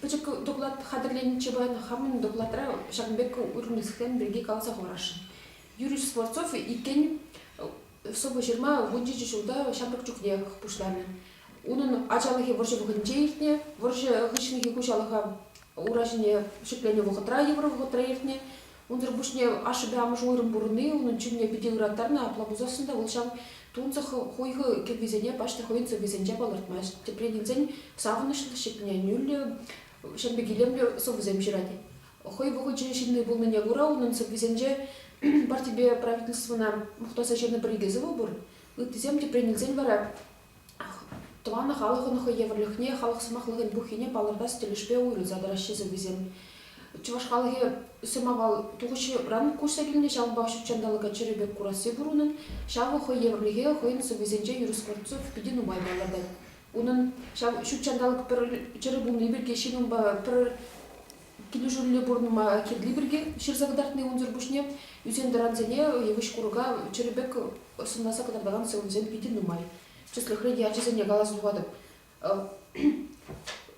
Пӗчӗк доклад хатӗрленӗччӗ паян хамӑн докладра ҫакӑн пек вырӑнӗсем пирки каласа хӑварасшӑн. Юрий Скворцов иккен сӑвӑ-ҫырма вунҫичӗ ҫулта ҫамрӑк чухнех пуҫланӑ. Унӑн ачалӑхӗ вӑрҫӑ вӑхӑтӗнче иртнӗ. Вӑрҫӑ хыҫлӑхӗ хуҫалӑха ура ҫине ҫӗкленӗ вӑхӑтра, йывӑр вӑхӑтра иртнӗ. Унсӑр пуҫне ашшӗпе амӑшӗ уйрӑм пурӑнни унӑн чунне питӗ ыраттарнӑ. Апла пулсассӑн та вӑл ҫав тунсӑх хуйхӑ кӗввисене паҫнӑ хӑйӗн сӑввисенче палӑртмасть. Тӗпрен илсен савӑнӑҫлӑ, ҫитӗнӳллӗ, ҫемпе килӗмлӗ сӑвӑсем ҫырать. Хӑй вӑхӑчӗ ҫынни пулнине кура унӑн сӑввисенче партипе правительствӑна мухтаса ҫырнӑ пӗр-икӗ сӑвӑ пур. Ыттисем тӗпрен илсен вара Тӑван халӑхӑн хӑй евӗрлӗхне, халӑх сӑмахлӑхӗн пуххине палӑртас тӗлӗшпе уйрӑлса тӑраҫҫӗ сӑввисем. Чӑваш халӑхӗ сӑмавал тухӑҫран куҫса килнӗ, ҫавӑнпах ҫут ҫанталӑка чӗрӗ пек курасси пур унӑн. Ҫавӑ хӑй евӗрлӗхе хӑйӗн сӑввисенче юрӑ Скворцов питӗ нумай палӑртать. Унӑн ҫав ҫут ҫанталӑк пӗр чӗрӗ пулни пирки ҫын унпа пӗр Килӗшӳллӗ пур нумай кирли пирки ҫырса кӑтартни унсӑр пуҫне ӳсен-тӑрансене йывӑҫ-курӑка чӗрӗ пек сӑнласа кӑтартакан сӑвӑсем питӗ нумай. Тӗслӗхре те ачасене каласа тухатӑп.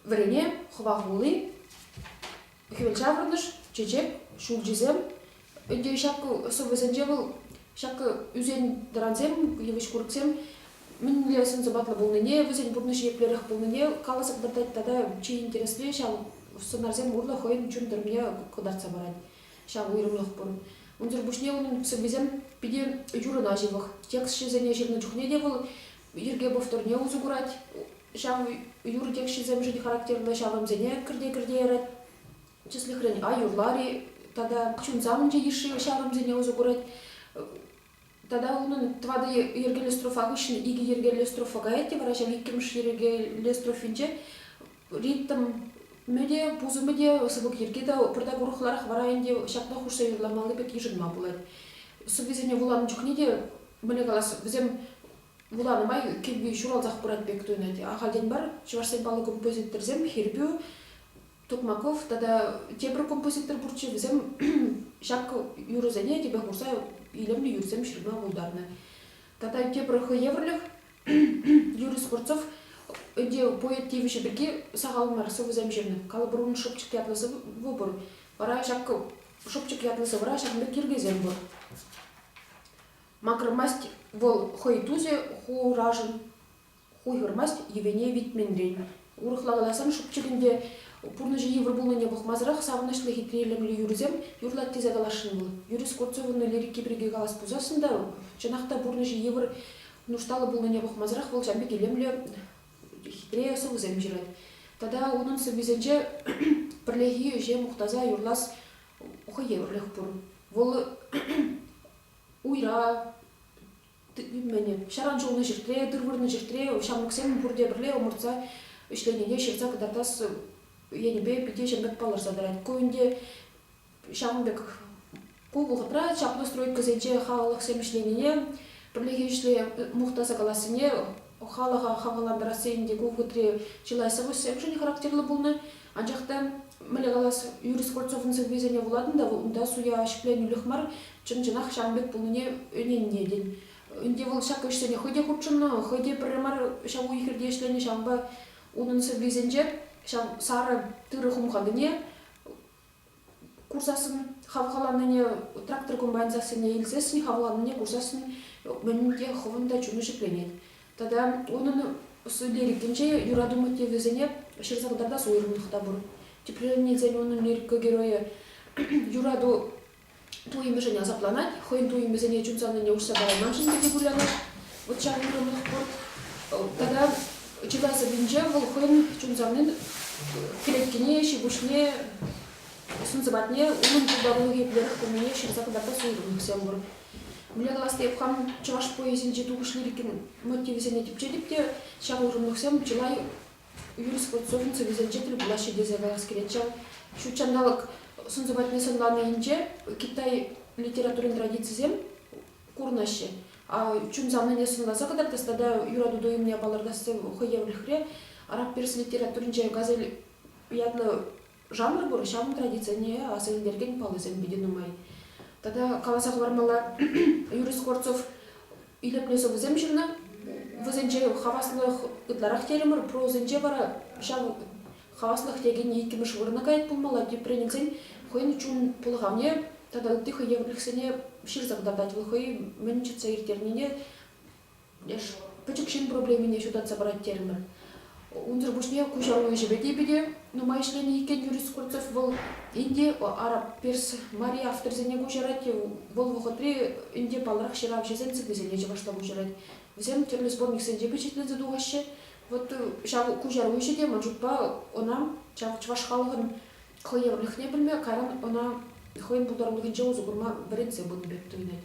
Вӗрене, хӑва хулли, хӗвел ҫаврӑнӑш, чечек, ҫулҫисем, ӗнтӗ ҫакӑ сӑвӑсенче вӑл ҫакӑ ӳсен-тӑрансем, йывӑҫ-курӑксем мӗнле сӑн-сӑпатлӑ пулнине, вӗсен пурнӑҫӗ еплерех пулнине каласа кӑтартать тата чи интересли ҫав сценарьсем урлӑ хӑйӗн чун тӗрмине кӑтартса парать. Ҫав уйрӑмлӑх пур. Унсӑр пуҫне унӑн сӑввисем питӗ юрӑна ҫывӑх. Текстҫӗсене ҫырнӑ чухне те вӑл йӗрке повторне усӑ курать. Ҫав юрӑ текстҫисемшӗн характерлӑ ҫаврӑмсене кӗрте-кӗрте ярать. Тӗслӗхрен, аюллар-и тата ҫунса мунча йышши ҫаврӑмсене усӑ курать. Тата унӑн тӑватӑ йӗркеллӗ строфа хыҫҫӑн икӗ йӗркеллӗ строфа каять те вара ҫав иккӗмӗш йӗркеллӗ строфинче ритм те, пусӑмӗ те, сыпӑк йӗрки те пӑртак урӑхларах вара ӗнтӗ ҫапла хушса юрламалли пек йышӑнма пулать. Сӑввисене вуланӑ чухне те, мӗне калас, вӗсем вуланӑ май кӗвви ҫуралсах пырать пек туйӑнать. Ахальтен мар чӑвашсен паллӑ композиторсем хирпӳ Тукмаков тата тепӗр композитор пурччӗ. Вӗсем ҫак юрӑсене тӗпе хурса илемлӗ юрӑсем ҫырма пултарнӑ. Тата тепӗр хӑй евӗрлӗх Юрий Скворцов ӗнтӗ поэт тивӗҫӗ пирки сахал мар сӑвӑсем ҫырнӑ. Калӑпӑрун шӑпчӑк ятлӑ сӑвӑ пур. Вара ҫак шӑпчӑк ятлӑ сӑвӑра ҫакӑн пек йӗркесем пур. Макӑрмасть вӑл хӑй тусӗ хурашӑн. Хуйхӑрмасть йӗвене витменрен. Урӑхла каласан, шӑпчӑкӗн те пурнӑҫӗ йывӑр пулнине пӑхмасӑрах савӑнӑҫлӑ хитре илемлӗ юрӑсем юрлать тесе каласшӑн вӑл. Юрий Скворцовӑн лирики пирки калас пулсассӑн та, чӑнах та пурнӑҫӗ йывӑр, нушталлӑ пулнине пӑхмасӑрах вӑл ҫан пек илемлӗ, хитре сӑвӑсем ҫырать. Тата унӑн сӑввисенче пӗрлехи ӗҫе мухтаса юрлас хӑй евӗрлех пур. Вӑл уйра, Мӗнӗ, ҫаран шӑлнӑ ҫӗртре, тыр вырнӑ ҫӗртре ҫамрӑксем пурте пӗрле ӑмӑртса ӗҫленине ҫырса кӑтартас енӗпе питӗ ҫӗмпӗк палӑрса тӑрать. Ку ӗнтӗ ҫавӑн пек ку вӑхӑтра чаплӑ стройкӑсенче халӑхсем ӗҫленине, пӗрлехи ӗҫле мухтаса калассине Халӑха хавхалантарас тесен те ку хутри чылай сӑвӑҫсемшӗн характерлӑ пулнӑ. Анчах та, мӗнле калас, Юрий Скворцовӑн сӑввисене вулатӑн та унта суя ҫӗкленӳлӗх мар, чӑн-чӑнах ҫавӑн пек пулнине ӗненнӗ тен. Ӗнтӗ вӑл ҫак ӗҫсене хӑй те хутшӑннӑ, хӑй те пӗрре мар ҫав уй-хирте ӗҫленӗ, ҫавӑнпа унӑн сӑввисенче ҫав сарӑ тырӑ хумханине курсассӑн хавхаланнине трактор комбайн сассине илсессӗн хавхаланнине курсассӑн мӗн те хӑвӑн та чуну ҫӗкленет тата унӑн сутелӗкӗнче юрату мотивӗсене ҫырса кӑтартас уйрӑмлӑх та пур тӗпленнисен унӑн лирика геройӗ юрату Туйӑмӗшӗн асапланать, хӑйӗн туйӑмӗсене чун савнине уҫса парайман-шим тесе кулянать вӑт ҫав уйрӑмлӑх пурт. Тата чылай сӑввинче вӑл хӑйӗн чун савнин кӗлеткине, ҫи-пуҫне, сӑн-сӑпатне унӑн пултарулӑхӗ еплерех пулнине ҫырса кӑтартас уйрӑмлӑхсем пур. Мӗнле калас тейӗп, хам чӑваш поэзийӗнчи тухӑҫ лирикин мотивӗсене типчетӗп те ҫав уйрӑмлӑхсем чылай юрисконсулть сӑвӗсенче тӗл пулаҫҫӗ тесе калас килет ҫав. Ҫут ҫанталӑк сӑн сӑпатне сӑнланийӗнче китай литературин традицисем курӑнаҫҫӗ. Чун-савнине те сӑнласа кӑтартас тата юрату туйӑмне палӑртас те хӑй евӗрлӗхре. Араб-перс литературинче Газель ятлӑ Жанр пур, ҫавӑн традицине аса илтерекен паллӑсем питӗ нумай. Тата каласа хӑвармалла, Юрий Скворцов илӗртнӗ сӑвӑсем ҫырнӑ. Вӗсенче хаваслӑх ытларах терӗмӗр, прозӑнче вара ҫав хаваслӑх текен иккӗмӗш вырӑна каять пулмалла. Тепренесен хӑйӗн чун пӑлхавне тата ытти хӑй евӗрлӗхсене ҫырса кӑтартать вӑл хӑй мӗн ҫыртса ирттернине Леш пӗчӗк ҫын проблемине ҫутатса парать терӗмӗр. Унсӑр пуҫне куҫару ӗҫӗпе те питӗ нумай ӗҫленӗ иккен Юрий Скворцов. Вӑл Инди, араб-перс мари авторсене куҫарать, вӑл вӑхӑтри Инди паллах ҫыравҫӑсен сӑввисене чӑвашла куҫарать. Вӗсем тӗрлӗ сборниксенче пичетленсе тухаҫҫӗ. Вот ҫав куҫару ӗҫӗ те ман шутпа ӑна ҫав чӑваш халӑхӑн хӑйевӗрлӗхне пӗлме, кайран ӑна хӑйӗн пултарулӑхӗнче усӑ курма вӗрентсе пынӑ пек туйӑнать.